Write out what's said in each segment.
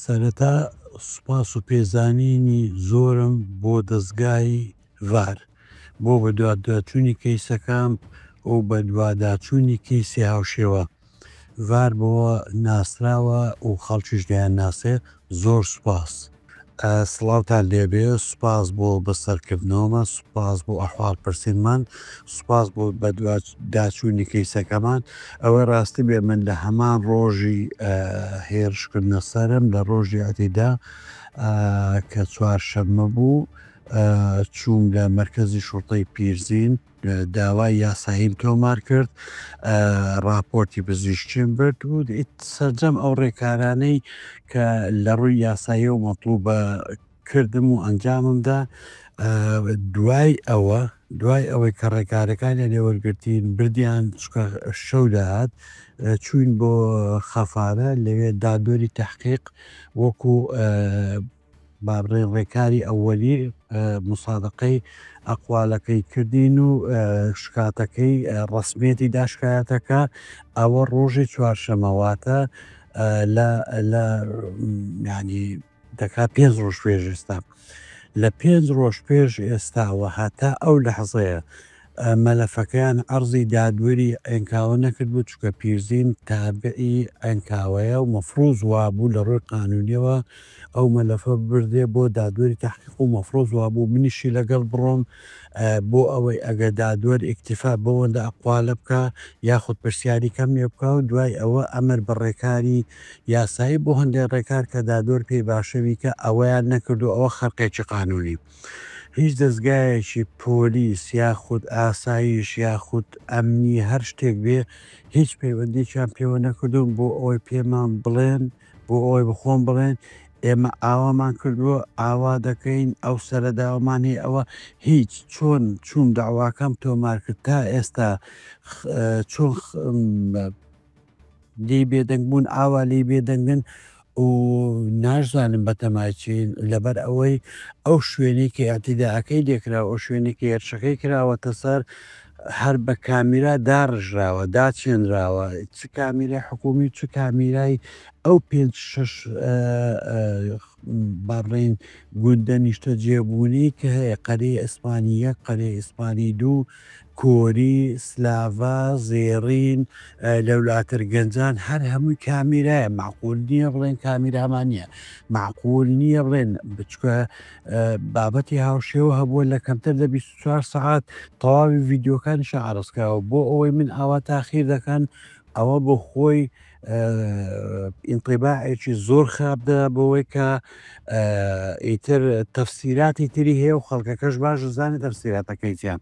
سەرەتا سوپاس و پێزانینی زۆرم بۆ دەزگای ڤار بۆ بەدواداچوونی کەیسەکەم و بەدواداچوونی کەیسی هاوشێوە ڤار بەوە ناسراوە و خەڵکیش دەیانناسێت زۆر سوپاس. سڵاوتان لێبێ سوپاس بۆ بەسەرکردنەوەمان سوپاس بۆ ئەحواڵ پرسینمان سوپاس بۆ بەدوا داچوونی کەیسەکەمان ئەوەی ڕاستی بێ من لە هەمان ڕۆژی هێرشکردە سەرم لە ڕۆژی عتیدا کە چوارشەممە بوو چووم لە مرکزی شوڕتەی پیرزین داوای یاساییم تۆمار کرد، ڕاپۆرتی پزیشکیم برد و سەرجەم ئەو ڕێکارانەی کە لە ڕووی یاساییەوە مەتڵوبە کردم و ئەنجامم دا. دوای ئەوە دوای ئەوەی کە ڕێکارەکانیان لێ وەرگرتین بردیان چکە شەو دەهات چووین بۆ خەفارە لەوێ دادوەری تەحقیق وەکوو بابرای ڕێکاری ئەوەلی موسادەقەی ئەقوالەکەی کردین و شکاتەکەی ڕەسمیەتی دا شکایەتە کە ئەوە ڕۆژی چوارشەمەواتە لە لە ینی دەکا پێنج ڕۆژ پێش ئێستا لە پێنج ڕۆژ پێش ئێستاوە هەتا ئەو لە حەزەیە مەلەفەکەیان عەرزی دادوەری عێنکاوە نەکردبوو، چونکە پیرزین تابعی عێنکاوەیە و مەفروز وابوو لە ڕووی قانوونییەوە ئەو مەلەفە ببردرێ بۆ دادوەری تەحقیق و مەفروز وابوو منیشی لەگەڵ بڕۆم بۆ ئەوەی ئەگەر دادوەر ئیکتیفا بەوەندە ئەقوالە بکا یاخود پرسیاری کەم لێ بکا و دوای ئەوە ئەمر بە ڕێکاری یاسایی بۆ هەندێ ڕێکار کە دادوەر پێی باشە بیکا ئەوەیان نەکرد و ئەوە خەرقێکی قانوونی هیچ دەزگایەکی پۆلیس یاخود ئاسایش یاخود ئەمنی هەر شتێک بێ هیچ پەیوەندیەکیان پێوە نەکردوون بۆ ئەوەی پێمان بڵێن بۆ ئەوەی بەخۆم بڵێن ئێمە ئاوامان کردووە ئاوا دەکەین ئەو سەرە داوامان هەیە ئەوە هیچ چۆن چووم دەعواکەم تۆمار کرد تا ئێستا چۆن لێی بێدەنگ بوون ئاوا لێی بێدەنگن و ناشزانن بەتەمای چین، لەبەر ئەوەی ئەو شوێنەی کە ئیعتیداکەی لێکراوە، ئەو شوێنەی کە هێرشەکەی کراوەتە سەر، هەر بە کامیرا داڕژراوە، داچێنراوە، چ کامیرای حکوومی و چ کامیرای ئەو پێنج شەش با بڵێین گوندە نیشتەجێبوونەی کە هەیە، قەرەی ئەسپانی یەک، قەرەی ئەسپانی دوو، کۆری، سلاڤا، زێڕین، لەولاتر گەنجان هەر هەمووی کامیرایە مەعقول نیە بڵێن کامیرامان نیە مەعقول نیە بڵێن بچکە بابەتی هاوشێوە هەبووە لە کەمتر لە 24 سەعات تەواوی ڤیددیوکانی شعرسکراوە بۆ ئەوەی من ئاوا تاخیر دەکەن ئەوە بۆ خۆی ئینتیباعێکی زۆر خراپ دە بۆەوەی کە ئیتر تەفسیراتی تری هەیە و خەڵکەکەش باش زانانی تەفسیراتەکەیتیان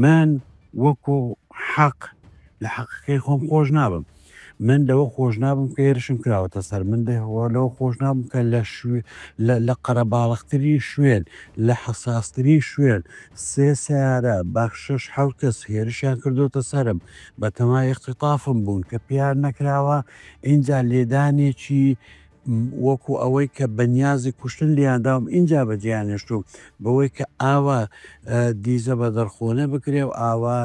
من وەکو حەق لە حەقەکەی خۆم خۆش نابم من لەوە خۆش نابم کە هێرشم کراوەتە سەر من دەهوە لەوە خۆش نابم کە لە شوێ لە قەرەباڵختری شوێن لە حەساستری شوێن سێ سیارە باخشش حوت کەس هێرشیان کردوتە سرم بەتەمای ئیختیطافم بوون کە پێیان نەکراوە، ئینجا لێدانێکی وەکو ئەوەی کە بەنیازی کوشتن لێیان داوم ئینجا بەجێیان هێشتووم، بەوەی کە ئاوا دیزە بەدەرخۆنە بکرێ و ئاوا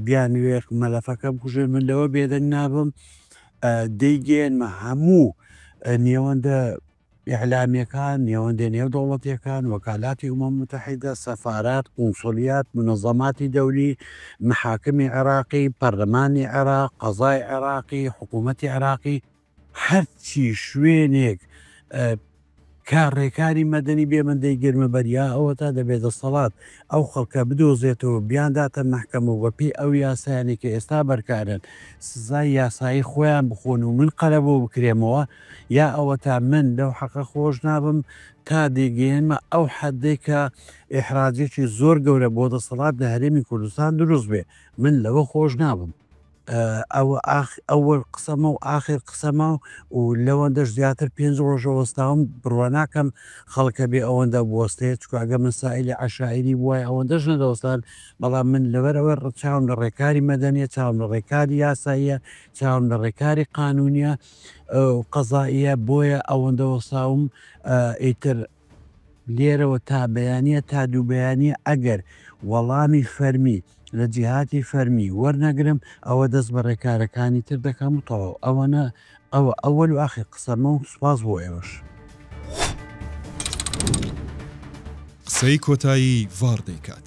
بیانوێ مەلەفەکە بکوژێ من لەوە بێدەنگ نابم، دەیگەیەنمە هەموو نێوەندە ئیعلامیەکان، نێوەندە نێودەوڵەتیەکان، وەکالاتی ئومەم موتەحیدە، سەفارات، قونسولیات، منەزەماتی دەولی، مەحاکمی عێراقی، پەرلەمانی عێراق، قەزای عێراقی، حکومەتی عێراقی، هەرچی شوێنێک کارڕێکاری مەدەنی بێ من دەیگرمە بەر یا ئەوەتا دەبێ دەسەڵات ئەو خەڵکە بدۆزێتەوە بیانداتە مەحکەمە و بەپێی ئەو یاسایانی کە ئێستا بەرکارن سزای یاسایی خۆیان بخۆن و من قەرەبوو بکرێمەوە یا ئەوەتا من لەو حەقە خۆش نابم تا دەیگەیەنمە ئەو حەدەی کە ئیحراجێکی زۆر گەورە بۆ دەسەڵات لە هەرێمی کوردستان دروست بێ من لەوە خۆش نابم. ئەوە ئەوەل قسەمە و ئاخر قسەمە و لەوەندەش زیاتر پێنج ڕۆژە وەستاوم بڕوا ناکەم خەڵکە بێ ئەوەندە بوەستێت چکگە من سائلی عشاعری بووای ئەوەندەش نەدەوەستان بەڵام من لەبەر ئەوە ڕچاوم لە ڕێکاری مەدەنیە چاوم لە ڕێکاری یاساییە چاوم لە ڕێکاری قانونیە و قەزائیە بۆیە ئەوەندە وەستاوم ئیتر لێرەوە تا بەیانە تا دوو بەیانە ئەگەر وەڵامی فەرمی لە جیهاتی فەرمی وەرنەگرم ئەوە دەست بە ڕێکارەکانی تر دەکەم و تەواو ئەوەنە ئەوە ئەوەل و ئاخر قسەمە و سوپاس بۆ ئێوەش. قسەی کۆتایی ڤاڕ دەیکات.